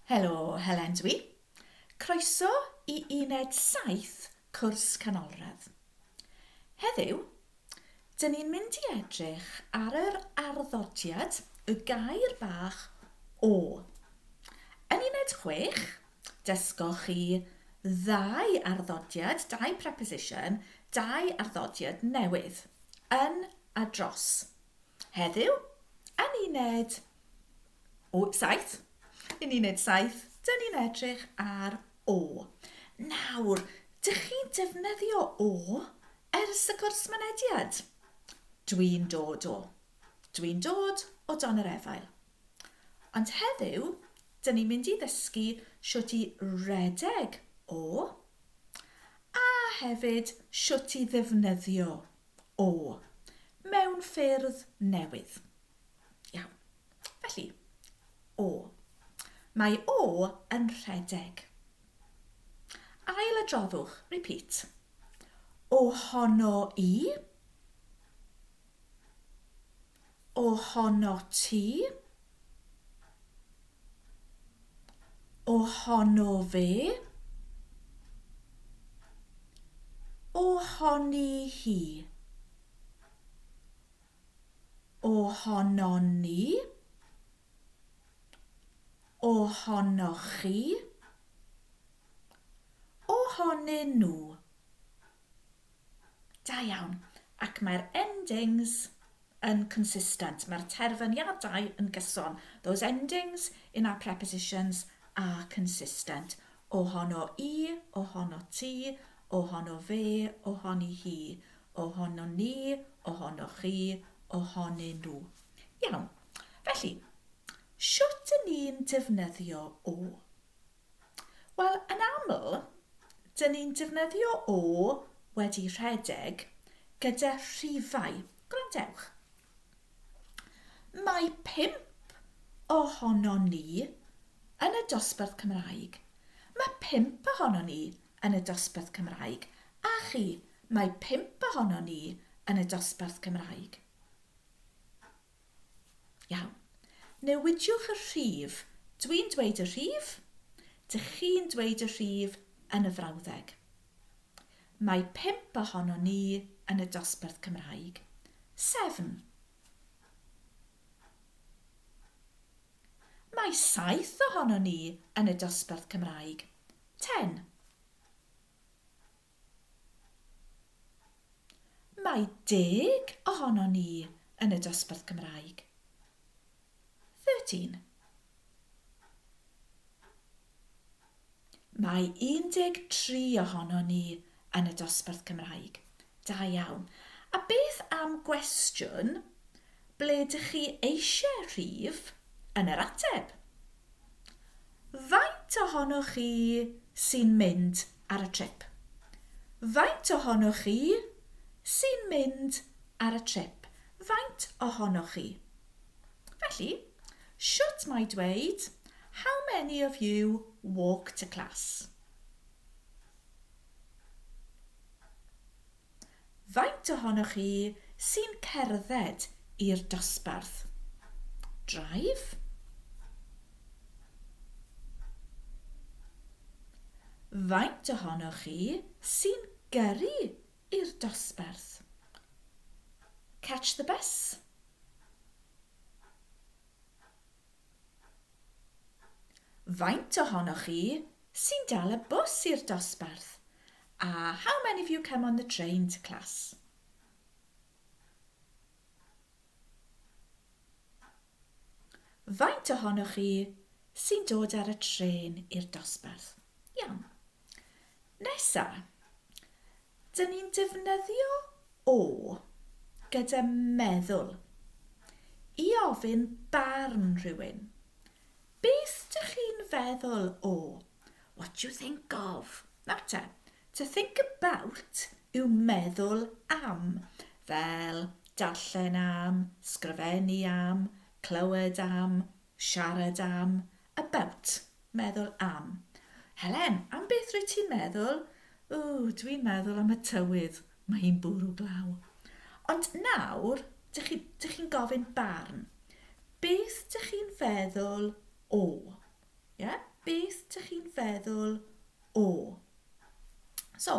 Helo, Helen dw i. Croeso i uned saith cwrs canolradd. Heddiw, dyn ni'n mynd i edrych ar yr arddodiad y gair bach 'o'. Yn uned chwech, dysgoch chi ddau arddodiad, dau preposition, dau arddodiad newydd, yn a dros. Heddiw, yn uned 7, yn uned 7, dyn ni'n edrych ar O. Nawr, dych chi'n defnyddio O ers y cwrs mynediad? Dwi'n dod o. Dwi'n dod o dan yr efail. Ond heddiw, dyn ni'n mynd i ddysgu sut i redeg O a hefyd sut i ddefnyddio O! Mewn ffyrdd newydd. Iawn. Felly, O. Mae O yn rhedeg. Ail adroddwch, repeat. Ohono i. Ohono ti. Ohono fe. Ohoni hi. Ohonon ni. Ohonoch chi. Ohonyn nhw. Da iawn. Ac mae'r endings yn consistent. Mae'r terfyniadau yn gyson. Those endings in our prepositions are consistent. Ohono i, ohono ti, ohono fe, ohoni hi, ohonon ni, ohonoch chi, ohonyn nhw. Iawn. Felly, shwt 'yn ni'n defnyddio o? Wel, yn aml, dyn ni'n defnyddio o wedi rhedeg gyda rhifau. Gwrandewch. Mae pump ohonon ni yn y dosbarth Cymraeg. Mae pump ohonon ni yn y dosbarth Cymraeg. A chi, mae pump ohonon ni yn y dosbarth Cymraeg. Iawn. Newidiwch y rhif. Dwi'n dweud y rhif. Dych chi'n dweud y rhif yn y frawddeg. Mae pump ohonon ni yn y dosbarth Cymraeg. Seven. Mae saith ohonon ni yn y dosbarth Cymraeg. Ten. Mae deg ohonon ni yn y dosbarth Cymraeg. Thirteen. Mae 13 ohonon ni yn y dosbarth Cymraeg. Da iawn. A beth am gwestiwn, ble dych chi eisiau rhif yn yr ateb? Faint ohonoch chi sy'n mynd ar y trip? Faint ohonoch chi sy'n mynd ar y trip? Faint ohonoch chi? Felly, shwt mae dweud How many of you walk to class? Faint ohonoch chi sy'n cerdded i'r dosbarth? Drive? Faint ohonoch chi sy'n gyrru i'r dosbarth? Catch the bus? Faint ohonoch chi sy'n dal y bws i'r dosbarth? A how many of you come on the train to class? Faint ohonoch chi sy'n dod ar y trên i'r dosbarth? Iawn. Nesa, dyn ni'n defnyddio o gyda meddwl i ofyn barn rhywun. Beth dych chi'n feddwl o, what do you think of? Nawr te, to think about yw meddwl am, fel darllen am, sgrifennu am, clywed am, Siarad am, about, meddwl am. Helen, am beth rwyt ti'n meddwl? Ww, dwi'n meddwl am y tywydd, mae hi'n bwrw glaw. Ond nawr, dych chi, dych chi'n gofyn barn. Beth dych chi'n feddwl o? Ie? Beth dych chi'n feddwl o? So,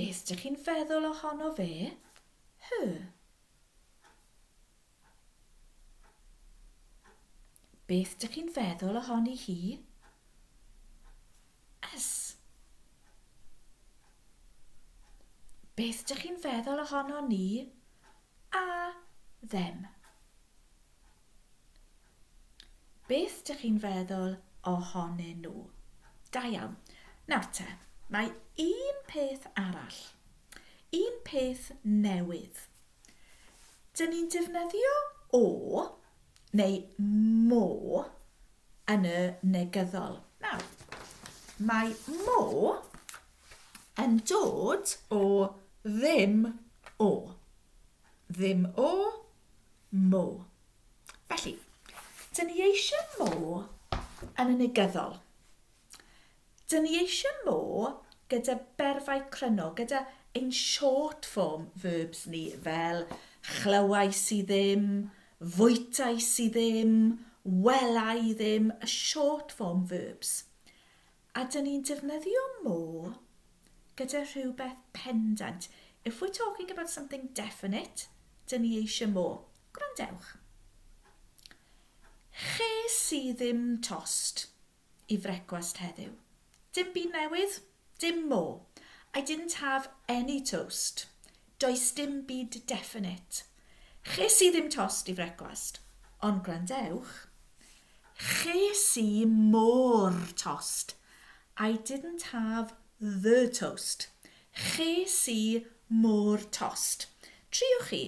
Beth dych chi'n feddwl ohono fe? Her. Beth dych chi'n feddwl ohoni hi? Us. Beth dych chi'n feddwl ohono ni? A. Them. Beth dych chi'n feddwl ohonyn nhw? Da iawn. Nawr te, mae un peth arall. Un peth newydd. Dyn ni'n defnyddio o neu mo yn y negyddol. Nawr, mae mo yn dod o ddim o. Ddim o mo. Felly, dyn ni eisiau mo yn y negyddol. Dyn ni eisiau mo gyda berfau cryno, gyda ein short form verbs ni fel chlywais i ddim, fwytais i ddim, wela i ddim, y short form verbs. A dyn ni'n defnyddio more gyda rhywbeth pendant. If we're talking about something definite, dyn ni eisiau more. Gwrandewch. Ches i ddim tost i frecwast heddiw. Dim byd newydd, dim more. I didn't have any toast. Does dim byd definite. Ches i ddim tost i frecwast, ond gwrandewch, ches i mo'r tost, I didn't have the toast, ches i mo'r tost. Triwch chi,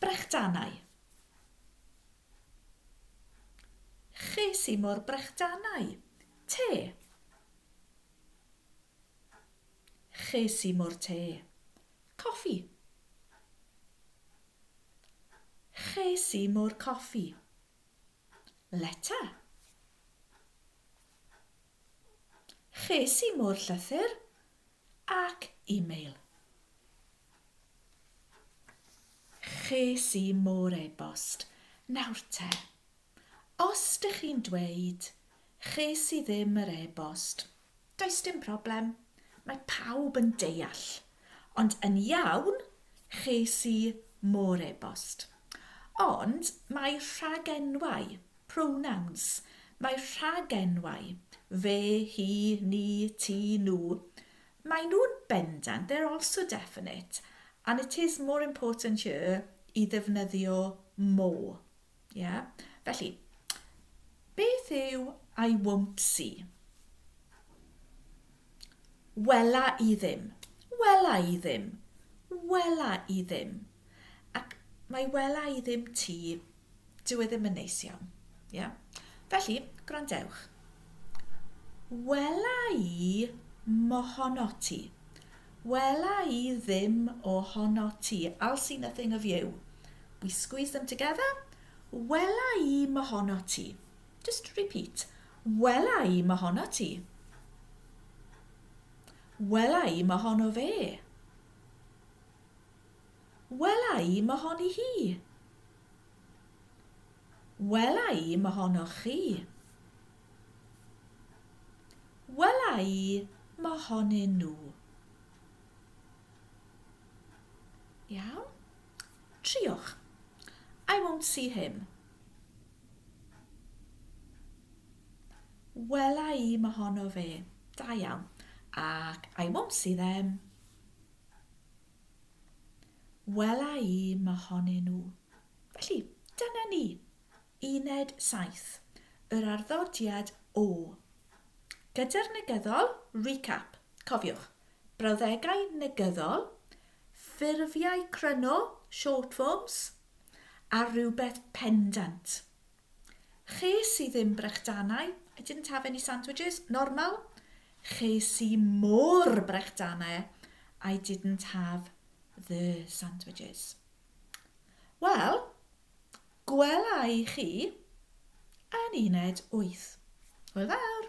brechdanau. Ches i mo'r brechdanau. Te. Ges i mo'r te. Coffi. Ges i mo'r coffi. Leta. Ges i mo'r llythyr ac e-mail. Ges i mo'r e-bost. Nawr te, os dych chi'n dweud Ches i ddim yr e-bost. Does dim problem, mae pawb yn deall. Ond yn iawn, ches i mo'r e-bost. Ond mae rhagenwau, pronouns, mae rhagenwau, fe, hi, ni, ti, nhw, maen nhw'n bendant, they're also definite, and it is more important here i ddefnyddio more. Ie? Felly, beth yw I won't see? Wela i ddim. Wela i ddim. Wela i ddim. Ac mae wela i ddim ti, dyw e ddim yn neis iawn. Ie? Felly, gwrandewch. Wela i mohono ti. Wela i ddim ohonot ti, I'll see nothing of you, We squeeze them together, Wela i 'm ohonot ti, Just repeat, Wela i 'm ohonot ti, Wela i 'm ohono fe, Wela i 'm ohoni hi, Wela i 'm ohonoch chi. Wela i mohonyn nhw. Iawn? Triwch. I won't see him. Wela i mohono fe. Da iawn. Ac I won't see them. Wela i mohonyn nhw. Felly, dyna ni. Uned 7, yr arddodiad o. Gyda'r negyddol, recap, cofiwch, brawddegau negyddol, ffurfiau cryno, short forms, a rhywbeth pendant. Ches i ddim brechdanau, I didn't have any sandwiches, normal. Ches i mo'r brechdanau, I didn't have the sandwiches. Wel, Gwela i chi yn uned wyth. Hwyl fawr!